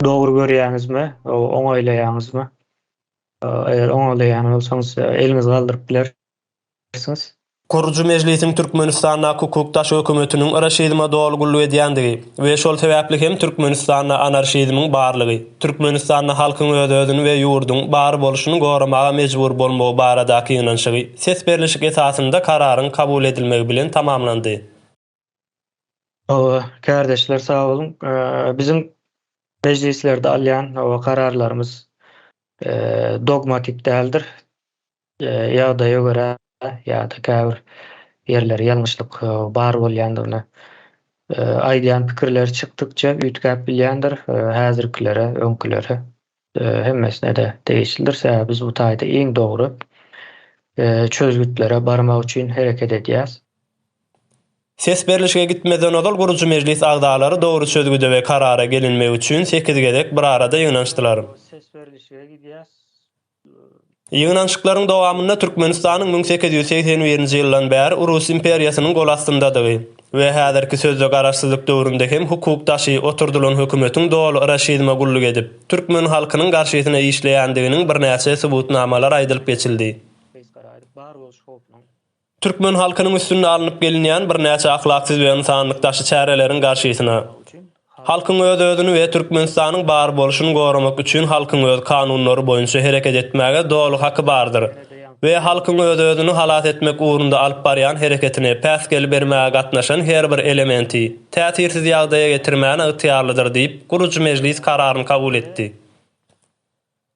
Dogry görýäňizmi? Oňaýlaýaňyzmy? Eger oňalaýan bolsaňyz, eliňizi galdyryp bilersiňiz. Gurujy mejlisiň Türkmenistandaky hukukdaş hökümetiniň iraşizme doly gulluk edýändigi we şol sebäpli hem Türkmenistanda anarşizmiň barlygy, Türkmenistanda halkyň öz-özüni we ýurduň bar bolşuny goramaga mejbur bolmagy baradaky ýygnanyşygy ses berlişik esasynda kararyň kabul edilmegi bilen tamamlandy. Hawa, kärdeşler sag boluň. Biziň mejlislerde alýan hawa kararlarymyz dogmatik däldir. Ýagdaýa görä ýa-da käbir ýerleri ýalňyşlyk bar bolýandygyny aýdýan pikirleri çykdykça üýtgäp bilýändir, häzirkilere, öňkülere. hemmesine-de degişlidir, sebäbi biz bu taýda iň dogry çözgütlere barmak üçin hereket edýäris. Ses berlişige gitmezden ozal gurujy mejlis agzalary dogry çözgüde we karara gelinmegi üçin sekiz gezek bir arada ýygnanyşdylar. Ýygnanyşyklaryň dowamynda Türkmenistanyň müň sekiz ýüz segsen birinji ýyldan bäri Urus imperiýasynyň golastyndadygy we häzirki sözde garaşsyzlyk döwründe hem hukuk daşy oturdylan hökümetiň doly raşizme gulluk edip, türkmen halkynyň garşysyna işleýändiginiň birnäçe subutnamalar aýdylyp geçildi. Türkmen halkynyň üstünde alnyp gelinýän birnäçe ahlaksyz we ynsanlyk daşy çäreleriň garşysyna, halkyň öz-özüni we Türkmenistanyň bar bolşuny goramak üçin halkyň öz kanunlary boýunça hereket etmäge doly haky bardyr we halkyň öz-özüni halas etmek ugrunda alyp barýan hereketine päsgel bermäge gatnaşan her bir elementi täsirsiz ýagdaýa getirmäne ygtyýarlydyr diýip, gurujy mejlis kararyny kabul etdi.